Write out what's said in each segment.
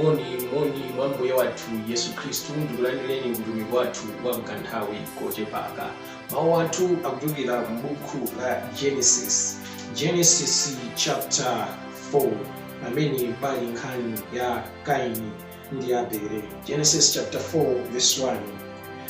moni moni mwa mbuye wathu yesu khristu ndikulandireni ku utumiki wathu wa mkanthawi kochepaka mawu athu akuchokera m'buku la genesis genesis chapter 4 pamene pali nkhani ya kaini ndi abele genesis chapter 4 verse 1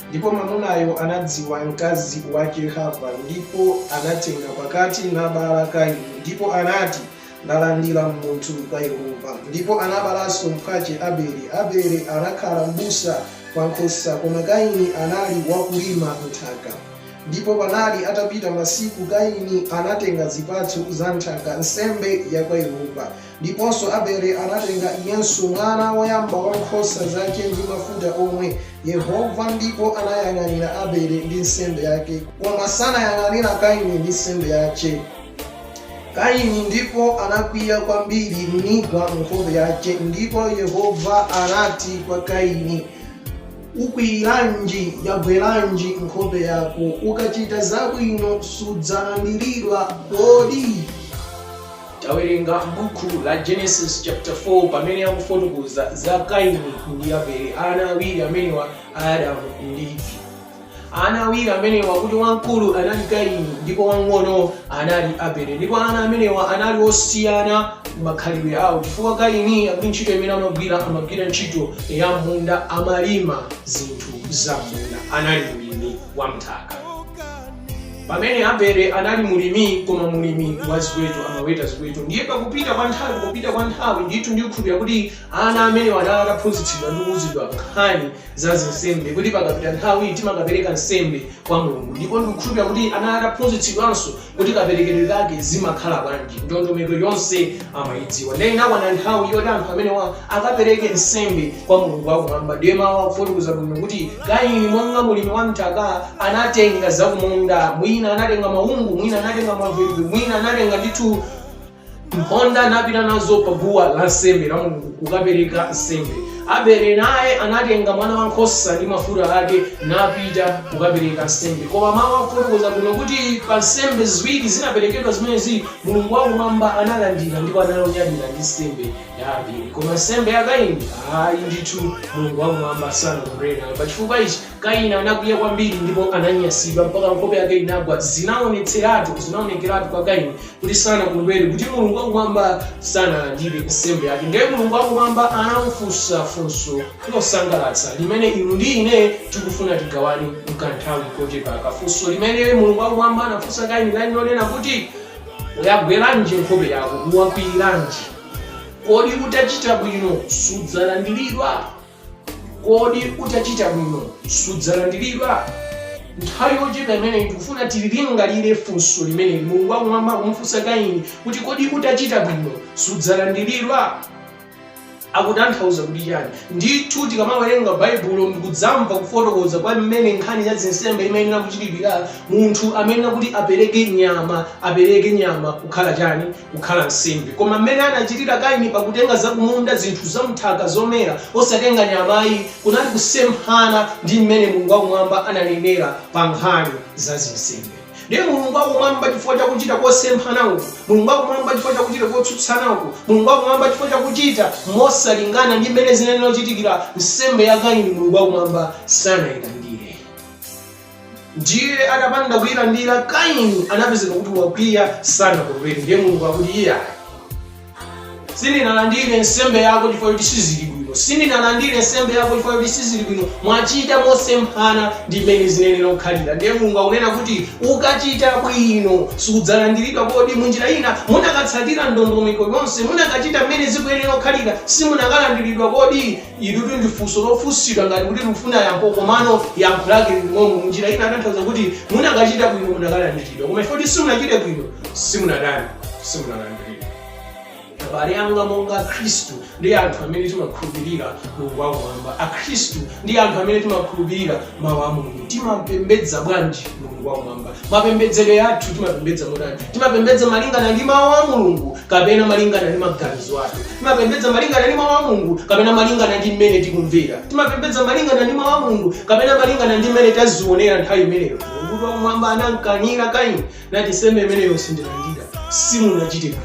ndipo mwamunayo anadziwa mkazi wache hava ndipo anatenga pakati nabala kaini ndipo anati Ndalandila munthu kwa Yehova. Ndipo anabalanso mpwace Abeli. Abeli anakhala mbusa wa nkhosa, koma Kaini anali wakulima nthaka. Ndipo panali atapita masiku, Kaini anatenga zipatso za nthaka, nsembe ya kwa Yehova. Ndiponso Abeli anatenga iyenso mwana woyamba wa nkhosa zace ndi mafuta omwe. Yehova ndipo anayang'anira Abeli ndi nsembe yake, koma sanayang'anira Kaini ndi nsembe yace. Kaini ndipo anakwiya kwambiri nigwa nkhope yace, ndipo Yehova anati kwa Kaini, Ukwiyiranji, yagweranji nkhope yako? Ukacita zabwino sudzalandiridwa kodi? Tawerenga m'buku la Genesis chapter 4 pamene akufotokoza za Kaini ndi Abele, ana awiri amenewa a Adamu ndi ana awiri amenewa kuti wamkulu anali kaini ndipo wamng'ono anali abele ndipo ana amenewa anali osiyana makhalidwe awo chifukwa kaini akuti ntchito imene amagwira amagwira ntchito ya mmunda amalima zinthu za mmunda anali mlimi wa mthaka pamene abele anali mulimi koma mulimi wa ziweto amaweta ziweto ndiye pakupita kwa nthawi pakupita kwa nthawi ndithu ndikukhulupira kuti ana amenewa anali ataphunzitsidwa ndi kuuzidwa nkhani za zinsembe kuti pakapita nthawi timakapereka nsembe kwa mulungu ndipo ndikukhulupira kuti anali ataphunzitsidwanso kuti kaperekedwe kake zimakhala bwanji ndondomeko yonse amayidziwa ndiye inakwana nthawi yoti anthu amenewa akapereke nsembe kwa mulungu wakumwamba ndiye mawu akufotokoza bwino kuti kaini monga mulimi wa mthaka anatenga zakumunda mwina anatenga maungu mwina anatenga maveve mwina anatenga ndithu mphonda napita nazo pa guwa la nsembe la mulungu kukapereka nsembe abele naye anatenga mwana wa nkhosa ndi mafuta ake napita kukapereka nsembe koma mawu akufotokoza bwino kuti pa nsembe ziwiri zinaperekedwa zimenezi mulungu wakumwamba analandira ndipo ananyadira ndi nsembe ya abele koma nsembe ya kaini ayi ndithu mulungu wakumwamba sanakondwere nayo pachifukwa ichi Kaini anakwiya kwambiri ndipo ananyansidwa mpaka nkhope yake inagwa. Zinaonetseratu, zinaonekeratu pa Kaini kuti sanakondwere, kuti Mulungu wakumwamba sanalandire nsembe yake. Ndiye Mulungu wakumwamba anamufunsa funso losangalatsa limene inu ndi ine tikufuna tigawane mkanthawi kochepaka. Funso limene Mulungu wakumwamba anafunsa Kaini linali lonena kuti, Yagweranji nkhope yako? Wakwiyiranji? Kodi utachita bwino sudzalandiridwa? kodi utachita bwino sudzalandiridwa nthawi yochepa imeneyi ndikufuna tililingalire funso limeneli mulungu wakumwamba akumufunsa kaini kuti kodi utachita bwino sudzalandiridwa akutanthauza kuti chani ndithu tikamawerenga baibulo ndikudzamva kufotokoza kwa mmene nkhani ya zinsembe imayenera kuchitidwira munthu amayenera kuti apereke nyama apereke nyama kukhala chani kukhala nsembe. Koma mmene anachitira Kaini pa kutenga zakumunda, zinthu za m'nthaka, zomera, osatenga nyama ayi, kunali kusemphana ndi mmene Mulungu wa Kumwamba ananenera pa nkhani za zinsembe. Ndiye Mulungu wa Kumwamba chifukwa cha kuchita kosemphana uku, Mulungu wa Kumwamba chifukwa cha kuchita kotsutsana uku, Mulungu wa Kumwamba chifukwa cha kuchita mosalingana ndi mmene zinayenera kuchitikira, nsembe ya Kaini Mulungu wa Kumwamba sanailandire. Ndiye atapanda kuilandira, Kaini anapezeka kuti wakwiya, sanakondwere. Ndiye Mulungu akuti, Iyayi, sindinalandire nsembe yako chifukwa choti sizili bwino, sindinalandire nsembe yako chifukwa choti sizili bwino, mwachita mosemphana ndi mmene zinayenera kukhalira. Ndiye Mulungu akunena kuti, ukachita bwino sudzalandiridwa. Kodi munjira ina munakatsatira ndondomeko yonse, munakachita mmene zikuyenera kukhalira, simunakalandiridwa kodi? Ilitu ndi funso lofunsidwa ngati kuti likufuna yankho komano yankho lake lili momwemo munjira ina akutanthauza kuti munakachita bwino munakalandiridwa koma poti simunachite bwino simunatani simunalandiridwa abale anga monga akhristu ndife anthu amene timakhulupirira mulungu wakumwamba akhristu ndife anthu amene timakhulupirira mawu a mulungu timapembedza bwanji mulungu wakumwamba Mapembedzedwe athu, timapembedza motani? Timapembedza malingana ndi Mau a Mulungu kapena malingana ndi maganizo athu? Timapembedza malingana ndi Mau a Mulungu kapena malingana ndi mmene tikumvera? Timapembedza malingana ndi Mau a Mulungu kapena malingana ndi mmene tazionera nthawi imeneyo? Mulungu wakumwamba anamkanira Kaini nati, Nsembe imeneyo sindilandira, simunachite bwino.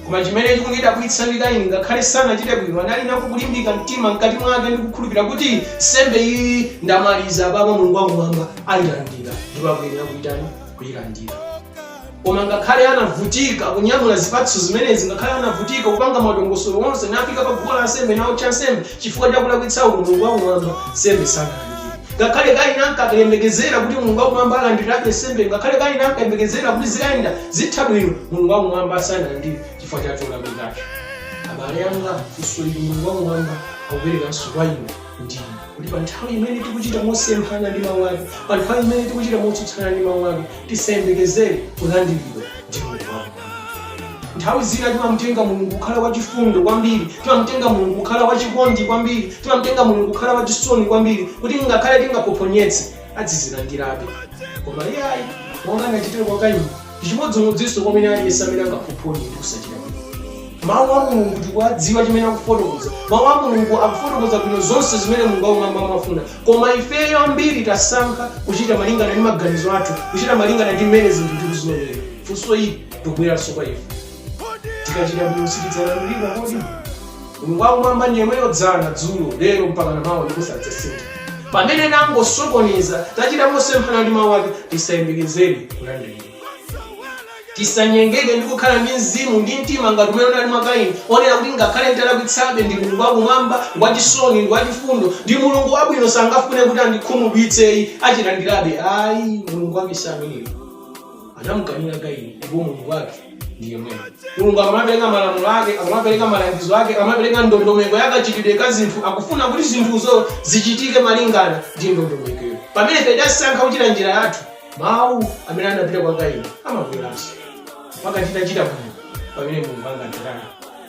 koma chimene chikundidabwitsa ndi kaini ngakhale sanachite bwino anali nako kulimbika mtima mkati mwake ndikukhulupirira kuti nsembe iyi ndamaliza apapa mulungu wakumwamba ayilandira ndipo akuyenera kuitani kuyilandira koma ngakhale anavutika kunyamula zipatso zimenezi ngakhale anavutika kupanga madongosolo onse nafika pa guwa la nsembe naotcha nsembe Chifukwa cha kulakwitsaku, Mulungu wakumwamba nsembe sanalandire. Ngakhale Kaini ankakayembekezera kuti Mulungu wakumwamba alandirabe nsembeyo, ngakhale Kaini ankayembekezera kuti zikayenda zitha bwino, Mulungu wakumwamba sanalandire chifukwa cha cholakwikacho. Abale anga, funso ili Mulungu wakumwamba akuperekanso kwa inu ndi ine, kuti pa nthawi imene tikuchita mosemphana ndi mawu ake, pa nthawi imene tikuchita motsutsana ndi mawu ake, tisayembekezere kulandiridwa ndi Mulungu wakumwamba. Nthawi zina timamutenga Mulungu kukhala wachifundo kwambiri, timamutenga Mulungu kukhala wachikondi kwambiri, timamutenga Mulungu kukhala wachisoni kwambiri, kuti ngakhale tingaphophonyetse, adzatilandirabe. Koma iye ayi, monga anachitira kwa Kaini, ndi chimodzimodzinso kwa wina aliyense amene angaphophonye ndi kusachita bwino. Mawu a Mulungu tikuwadziwa chimene akufotokoza. Mawu a Mulungu akufotokoza bwino zonse zimene Mulungu wakumwamba amafuna. Koma ifeyo ambiri tasankha kuchita malingana ndi maganizo athu, kuchita malingana ndi mmene zinthu tikuzionera. funso ili likubweranso kwa ife tikachita bwino sitidzalandiridwa kodi mulungu wakumwamba ndi yemweyo dzana dzulo lero mpaka namawa ndipo sadzasintha pamene tangosokoneza tachita mosemphana ndi mawu ake tisayembekezere kulandiridwa tisanyengeke ndi kukhala ndi mzimu ndi mtima ngati umene unali mwa kaini onena kuti ngakhale nditalakwitsabe mulungu wakumwamba ngwachisoni ngwachifundo ndi mulungu wabwino sangafune kuti andikhumudwitse ayi achilandirabe ayi mulungu wake si ameneyo anamukanira kaini ndipo mulungu wake ndi yemweyo mulungu amapereka malamulo ake amapereka malangizo ake amapereka ndondomeko ya kachitidwe ka zinthu akufuna kuti zinthuzo zichitike malingana ndi ndondomekoyo pamene ife tasankha kuchita njira yathu mawu amene adapita kwa kaini amabweranso pakachitachita bwino pamene mulungu angatirani